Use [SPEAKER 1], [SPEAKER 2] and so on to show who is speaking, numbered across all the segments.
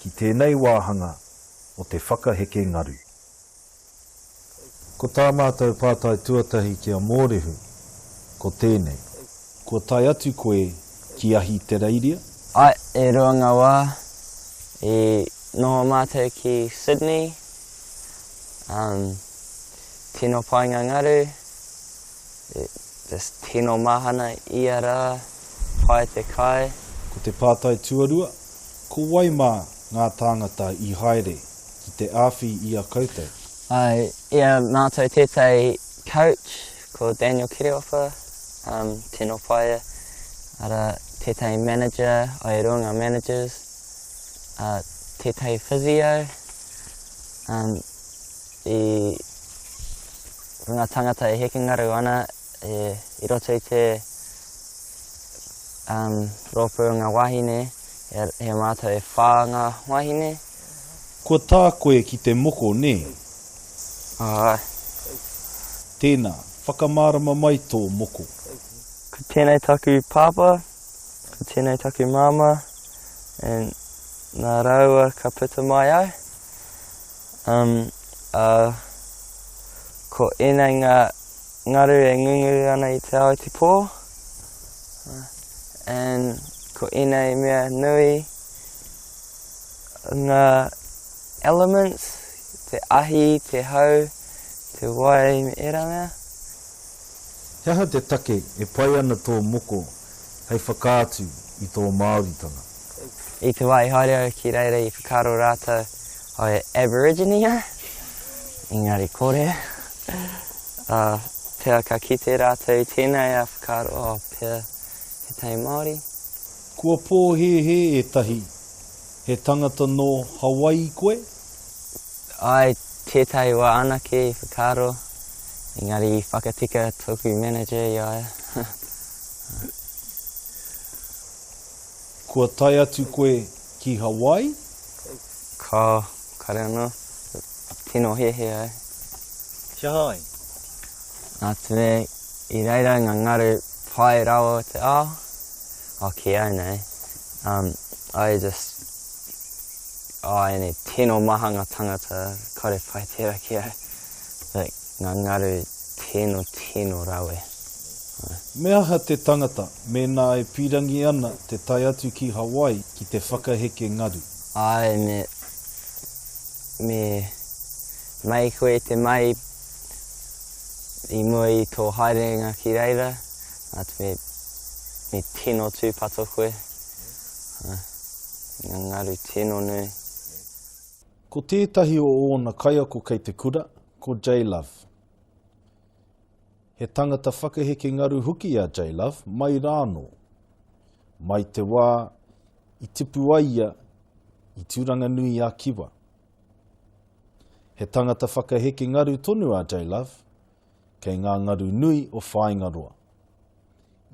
[SPEAKER 1] ki tēnei wāhanga o te whakaheke ngaru. Ko tā mātou pātai tuatahi ki a Mōrehu, ko tēnei. Kua tae atu koe ki Ahitereiria? Ae, e rua
[SPEAKER 2] ngā wā. I noho mātou ki Sydney, umm, tino pai ngā ngaru. Just tino mahana ia ra, pai te kai. Ko te pātai
[SPEAKER 1] tuarua, ko wai mā ngā tāngata i haere ki te āwhi i a koutou? Āe, i
[SPEAKER 2] a mātou tētahi coach, ko Daniel Kereopa, um, tino pai ia, ara, tētahi manager, ai e rua ngā managers, a, tētahi physio, um, i. Ko ngā tāngata e hekengarau ana i roto i te rōpū o ngā wāhine, he mātou e whā ngā wāhine. Kua
[SPEAKER 1] tā koe ki te moko, nē? Āe. Tēnā, whakamārama mai tō moko. Ko
[SPEAKER 2] tēnei taku pāpā, ko tēnei taku māmā, and nā rāua ka puta mai au. Um, ā, ko ēnei ngā ngaru e ngunguru ana i te ao i te pō, and ko ēnei mea nui ngā elements, te ahi, te hau, te wai, me ērā mea.
[SPEAKER 1] He aha te take e pai ana tō moko hei whakaatu i tō Māoritanga. I te
[SPEAKER 2] wā i haere au ki reira i whakaaro rātou aue Aborigine au, engari kore. Ā, pea ka kite rātou i tēnei ā whakaaro, ō, pea tētahi Māori. Kua
[SPEAKER 1] pōhēhē ētahi, He tangata nō Hawaii koe?
[SPEAKER 2] I tētahi wā anake i whakaaro, engari i whakatika tōku manager i a ia.
[SPEAKER 1] Kua tae atu koe ki Hawaii? Kāo,
[SPEAKER 2] kare anō. Tino hehe ai. Ki aha
[SPEAKER 1] ai? Nā
[SPEAKER 2] te mea i reira ai ngā ngaru pai rawa o te ao, o ki au nei, um, I just. Āianei, tino maha nga tangata kare pai tera ki au, like, nga ngaru tino tino rawe, ah. Me
[SPEAKER 1] aha te tangata mēnā e pīrangi ana te tae atu ki Hawaii ki te whakaheke ngaru? Āe, me,
[SPEAKER 2] me mai koe te mai i mua i tō haerenga ki reira, atu me, me tino tūpato koe, ah. Ngā ngaru tino nui.
[SPEAKER 1] Ko tētahi o ōna kaiako kei te kura, ko J-Love. He tangata whakaheke ngaru hoki a J-Love, mai rānō. Mai te wā i tipu ai ia i Tūranganui-a-Kiwa. He tangata whakaheke ngaru tonu a J-Love, kei ngā ngaru nui o Whāingaroa.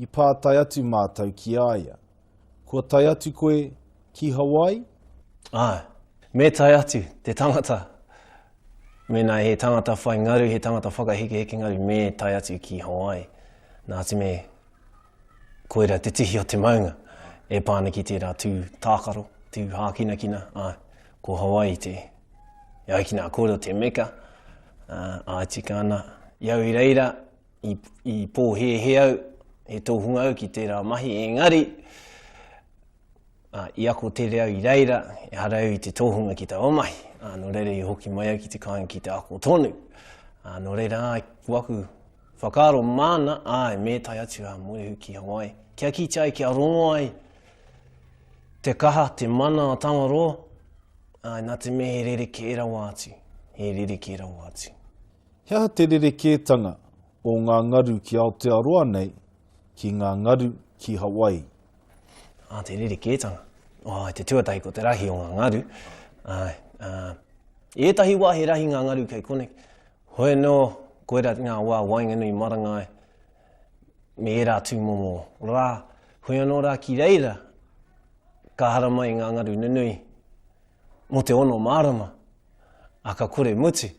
[SPEAKER 1] I pātai atu mātou ki a ia, Kua tae atu koe ki Hawaii? Āe,
[SPEAKER 3] me tae atu te tangata. Mēnā he tangata whai ngaru, he tangata whakahekeheke ngaru, me tae atu ki Hawaii. Nā te mea, koira te tihi o te maunga e pā ana ki tērā tū tākaro, tū hākinakina, āe, ko Hawaii te, e ai ki nā kōrero, te meka, āe, tika ana. I au i reira, i, i pōhēhē au, he tōhunga au ki tērā mahi, engari, uh, i ako tere au i reira, e hara au i te tōhunga ki taua mahi. Uh, nō reira i hoki mai au ki te kāinga ki te ako tonu. Uh, nō reira, ai, ku aku whakaaro māna, ai, me tai atu a Moehu ki Hawaii. Kia kite ai, kia rongo ai, te kaha, te mana a Tangaroa, ai, nā te me he rere kē rawa atu, he rere kē rawa atu. He aha te
[SPEAKER 1] rerekētanga o ngā ngaru ki Aotearoa nei ki ngā ngaru ki Hawaii?
[SPEAKER 3] Ā, te rerekētanga. Ā,
[SPEAKER 1] i te
[SPEAKER 3] tuatahi ko te rahi o ngā ngaru. Ā, ā, i ētahi wā he rahi ngā ngaru kei koneki. Hoi anō, koirā ngā wā waenganui marangai me ērā tūmomo rā. Hoi anō rā ki reira ka haramai ngā ngaru nunui mō te ono mārama Ā, ka kore mutu.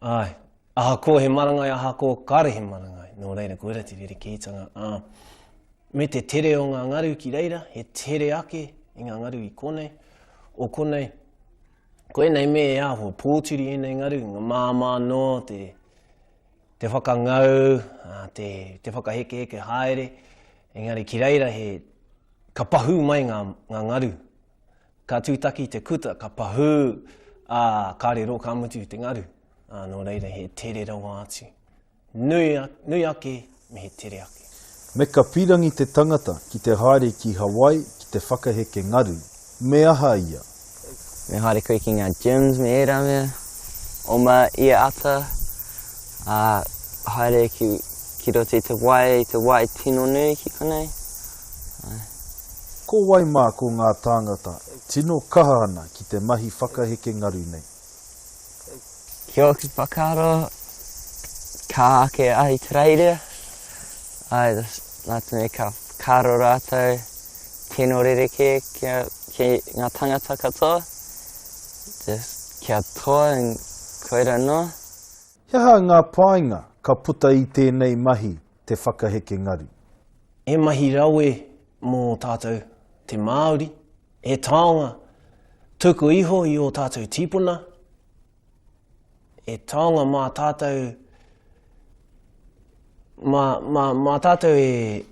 [SPEAKER 3] Āe. Ahakoa he marangai, ahakoa kāre he marangai, nō reira, ko ērā te rerekētanga. Ā, me te tere o ngā ngaru ki reira, he tere ake i ngā ngaru i konei, o konei, ko ēnei me e āhua pōturi ēnei ngaru, ngā māmā noa, te, te whakangau, ā, te, te whakahekeheke haere, engari ki reira he, ka pahū mai ngā, ngā ngaru, Ka tūtaki te kuta, ka pahū, ā, ka riro, ka mutu te ngaru. Ā, nō reira, he tere rawa atu. Nui, nui ake, me he tere ake. Me ka pīrangi
[SPEAKER 1] te tangata ki te haere ki Hawaii ki te whakaheke ngaru, me aha ia? Me haere
[SPEAKER 2] koe ki ngā gyms me ērā mea, oma i a ata, ā, haere ki, ki roto i te wai, te wai tino nui ki konei.
[SPEAKER 1] Ko wai mā ko ngā tāngata e tino kaha ana ki te mahi whakaheke ngaru nei?
[SPEAKER 2] Ki ōku whakaaro, ka āke Ahitereiria, āe, nā te mea ka whakaaro rātou tino rerekē kia, ki ngā tāngata katoa, just kia toa and koira noa. He aha
[SPEAKER 1] ngā painga ka puta i tēnei mahi te whakaheke ngaru. He mahi
[SPEAKER 3] rawe mō tātou te Māori, he taonga tuku iho i ō tātou tīpuna, he taonga mā tātou, mā, mā, mā tātou e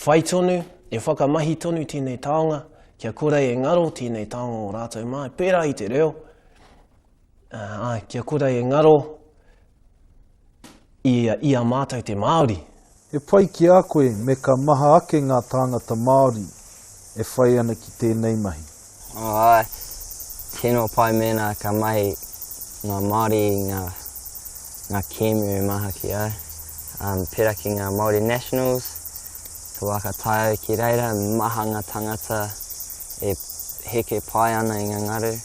[SPEAKER 3] whai tonu, e whakamahi tonu tēnei taonga, kia kore e ngaro tēnei taonga o rātou mā, pērā i te reo, uh, kia kore e ngaro I a, i a mātou te Māori. He pai ki
[SPEAKER 1] a koe me ka maha ake ngā tāngata Māori e whai ana ki tēnei mahi. Āe,
[SPEAKER 2] tino pai mēnā ka mahi ngā Māori i ngā, ngā kēmu e maha ki au. Um, pērā ki ngā Māori Nationals, ka waka tae au ki reira, maha ngā tāngata e heke pai ana i ngā ngaru.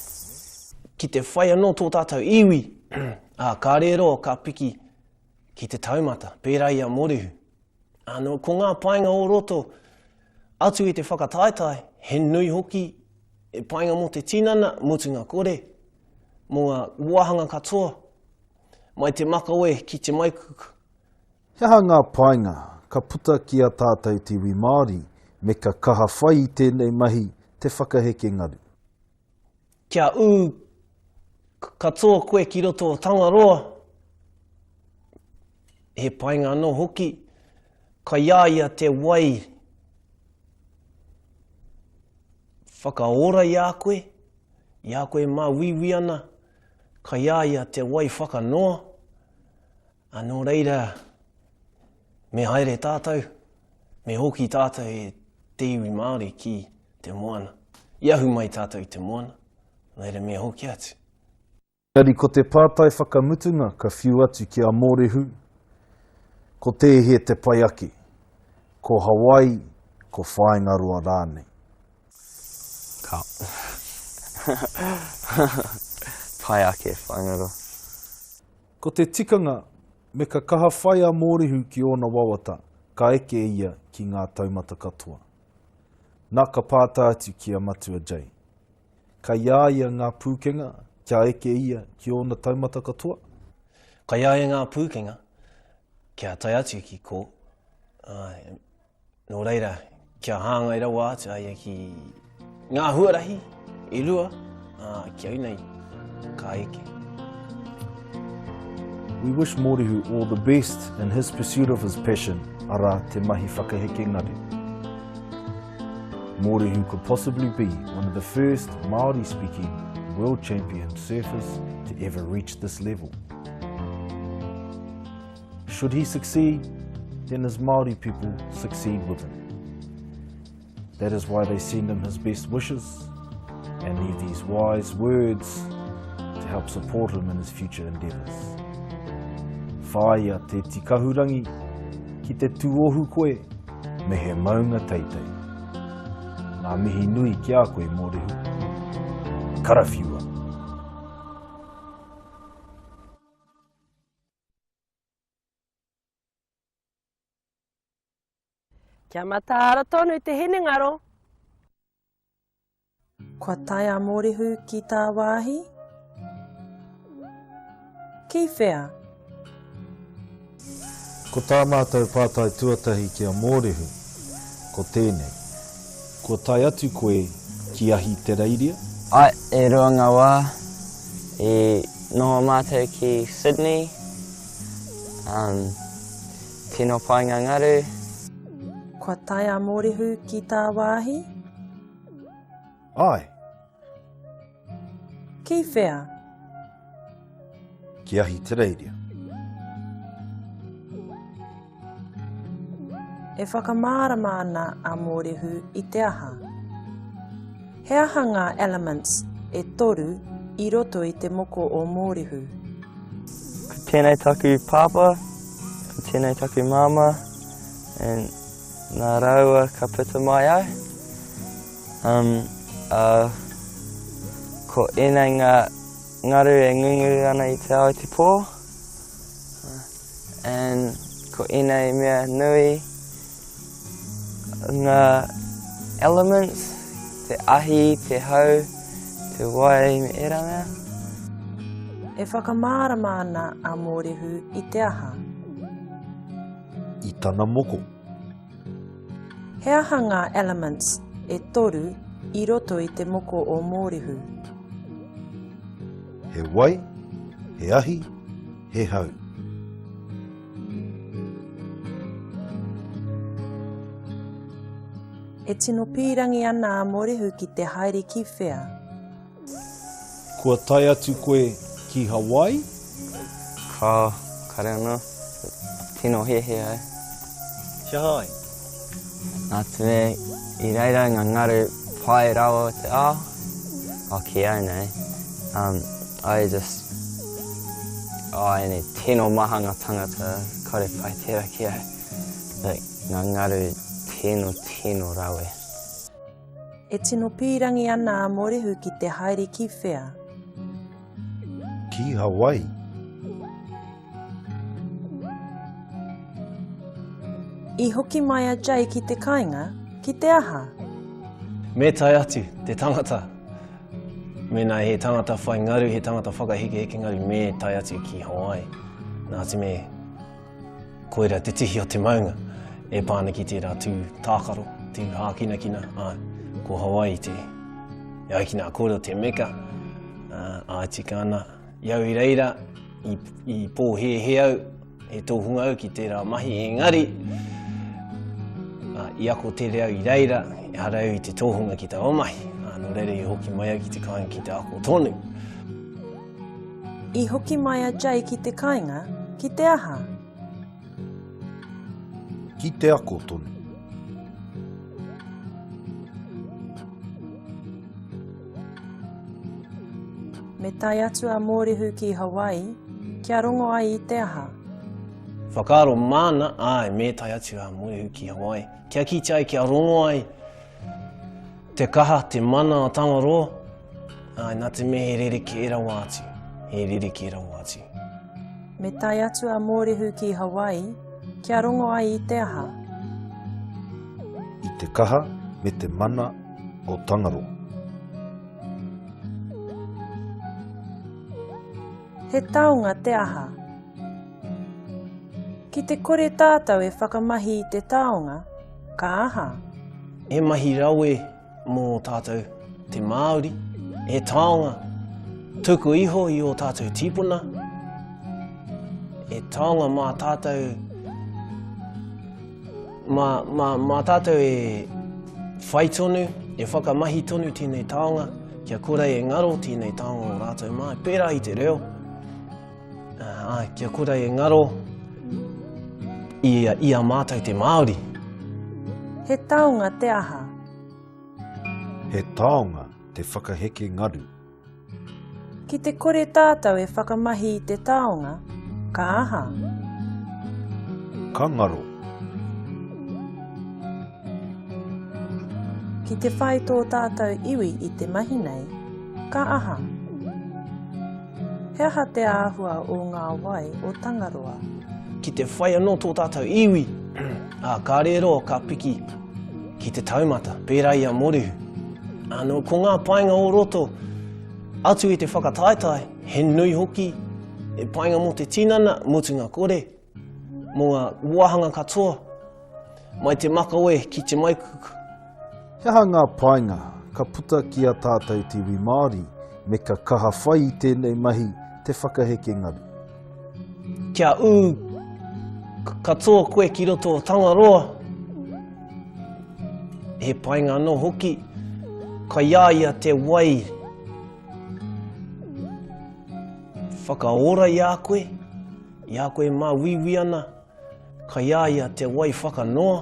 [SPEAKER 2] Ki
[SPEAKER 3] te whai anō tō tātou iwi. Ā, ka rero, ka piki ki te taumata, pērā i a Morihu. Ānō, ko ngā painga o roto atu i te whakataetae, he nui hoki, e painga mō te tinana, mutunga kore, mō ngā wāhanga katoa, mai te makawe ki te maikuku. He aha
[SPEAKER 1] ngā painga ka puta ki a tātou te iwi Māori me ka kaha whai i tēnei mahi te whakaheke ngaru?
[SPEAKER 3] Kia ū katoa koe ki roto o Tangaroa, he painga anō hoki, kai a ia te wai whakaora i a koe, i a koe mā wiwi ana, kai a ia te wai whakanoa, anō reira, Me haere tātou, me hoki tātou e te iwi Māori ki te moana. I ahu mai tātou i te moana, nō reira me hoki atu. Engari ko
[SPEAKER 1] te pātai whakamutunga ka whiu atu ki a Mōrehu, ko tēhea te pai ake, ko Hawaii, ko Whāingaroa rānei? Ka
[SPEAKER 2] pai ake Whāingaroa.
[SPEAKER 1] Ko te tikanga, me ka kaha whai a Mōrehu ki ōna wawata, ka eke ia ki ngā taumata katoa. Na, ka pātai atu ki a Matua Jay, Kai a ia ngā pūkenga kia eke ia ki ōna taumata katoa? Kai a
[SPEAKER 3] ia ngā pūkenga kia tae atu ki ko, ā, Nō reira, kia hāngai rawa atu a ia ki ngā huarahi i rua, ā, ki au nei, ka eke.
[SPEAKER 1] We wish Mōrehu all the best in his pursuit of his passion, arā, te mahi whakaheke ngaru. Mōrehu could possibly be one of the first Māori speaking world champion surfers to ever reach this level. Should he succeed, then his Māori people succeed with him. That is why they send him his best wishes and leave these wise words to help support him in his future endeavours. Whāia te tikahurangi ki te tūohu koe me he maunga teitei. Nā mihi nui ki a koe mō rehu. Karawhiua!
[SPEAKER 4] Kia mataara tonu te hinengaro.
[SPEAKER 5] Kua tae a Mōrehu ki tāwāhi? Ki whea?
[SPEAKER 1] Ko tā mātou pātai tuatahi ki a Mōrehu, ko tēnei. Kua tae atu koe ki Ahitereiria? Ae, e rua
[SPEAKER 2] nga wa i noho matou ki Sydney, um, tino pai nga ngaru. Kua
[SPEAKER 5] tae a Morehu ki ta wahi?
[SPEAKER 1] Ae.
[SPEAKER 5] Ki whea?
[SPEAKER 1] Ki Ahitereiria.
[SPEAKER 5] E whakamārama ana a Mōrehu i te aha? He aha ngā elements e toru i roto i te moko o Mōrehu?
[SPEAKER 2] Ko tēnei taku pāpā, ko tēnei taku māmā, and nā rāua ka puta mai ai. Um, uh, ko ēnei ngā ngaru e ngungu ana i te ao i te pō. Uh, and ko ēnei mea nui ngā elements, te ahi, te hau, te wai, me ērā mea.
[SPEAKER 5] E whakamārama ana a Mōrehu i te aha?
[SPEAKER 1] I tana moko.
[SPEAKER 5] He aha ngā elements e toru i roto i te moko o Mōrehu?
[SPEAKER 1] He wai, he ahi, he hau.
[SPEAKER 5] E tino pīrangi ana a Mōrehu ki te haere ki whea?
[SPEAKER 1] Kua tae atu koe ki Hawaii? Ka
[SPEAKER 2] kare ana. Tino hehe ai. Kia hai? Na te mea i reira nga ngaru pai rawa o te ao, oh ki au nei, um, I just, oh ene tino maha nga tangata kore pai tera ki au, like nga ngaru tino tino rawe.
[SPEAKER 5] E tino pīrangi ana a Morehu ki te haere ki whea? Ki
[SPEAKER 1] Hawaii.
[SPEAKER 5] I hoki mai a Jay ki te kainga, ki te aha? Me
[SPEAKER 3] tae atu, te tangata. Mena he tangata whai ngaru, he tangata whakahekeheke ngaru, me tae atu ki Hawaii. Nā te me, Koira te tihi o te maunga e pā ana ki tērā tū tākaro, tū hākinakina, āe, ko Hawaii te. E ai ki nā kōrero te meka, ā, āe tika ana, i au i reira, i, i pōhēhē au, e tōhunga au ki tērā mahi, engari, ā, i ako tere au i reira, e hara au i te tōhunga ki tā o mahi, ā, nō reira i hoki mai au ki te kāinga ki te ako tonu.
[SPEAKER 5] I hoki mai a Jay ki te kainga, ki te aha?
[SPEAKER 1] Ki te ako tonu.
[SPEAKER 5] Me tae atu a Mōrehu ki Hawaii, kia rongo ai i te aha? Whakaaro
[SPEAKER 3] māna, āe, me tae atu a Mōrehu ki Hawaii, kia kitea ai, kia rongo ai. Te kaha, te mana a Tangaroa, āe nā te mea he rerekē rawa atu, he rerekē rawa atu. Me
[SPEAKER 5] tae atu a Mōrehu ki Hawaii, kia rongo ai i te aha?
[SPEAKER 1] I te kaha me te mana o Tangaroa.
[SPEAKER 5] He taonga te aha? Ki te kore tātou e whakamahi i te taonga, Ka aha? He mahi
[SPEAKER 3] rawe mō tātou te Māori, he taonga tuku iho i o tātou tīpuna, he taonga mā tātou, mā, mā, mā tātou e whai tonu, e whakamahi tonu tēnei taonga, kia kore e ngaro tēnei taonga o rātou mā, pērā i te reo, Ā, kia kore e ngaro i, i a mātou te Māori.
[SPEAKER 5] He taonga te aha?
[SPEAKER 1] He taonga te whakaheke ngaru.
[SPEAKER 5] Ki te kore tātou e whakamahi i te taonga, ka aha?
[SPEAKER 1] Ka ngaro.
[SPEAKER 5] Ki te whai tō tātou iwi i te mahi nei, ka aha? He aha te āhua o ngā wai o Tangaroa? Ki te whai
[SPEAKER 3] anō tō tātou iwi, ā, ka rero, ka piki ki te taumata, pērā i a Morehu. Ānō, ko ngā painga o roto, atu i te whakataetae, he nui hoki, he painga mō te tinana, mutunga kore, Mō ngā wāhanga katoa, mai te makawe ki te maikuku. He aha
[SPEAKER 1] ngā painga ka puta ki a tātou te iwi Māori me ka kaha whai i tēnei mahi te whakaheke ngaru? Kia
[SPEAKER 3] ū katoa koe ki roto o Tangaroa, he painga anō hoki, kai a ia te wai whakaora i a koe, I a koe e māuiui ana, kai a ia te wai whakanoa,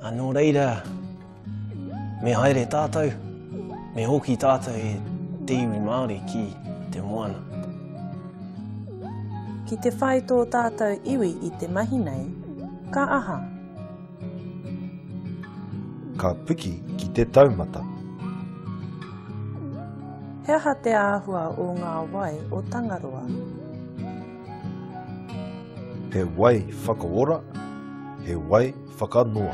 [SPEAKER 3] a nō reira, me haere tātou, me hoki tātou e te iwi Māori ki te moana.
[SPEAKER 5] Ki te whai tō tātou iwi i te mahi nei, ka aha?
[SPEAKER 1] Ka piki ki te taumata.
[SPEAKER 5] He aha te āhua o ngā wai o Tangaroa?
[SPEAKER 1] He wai whakaora, he wai whakanoa.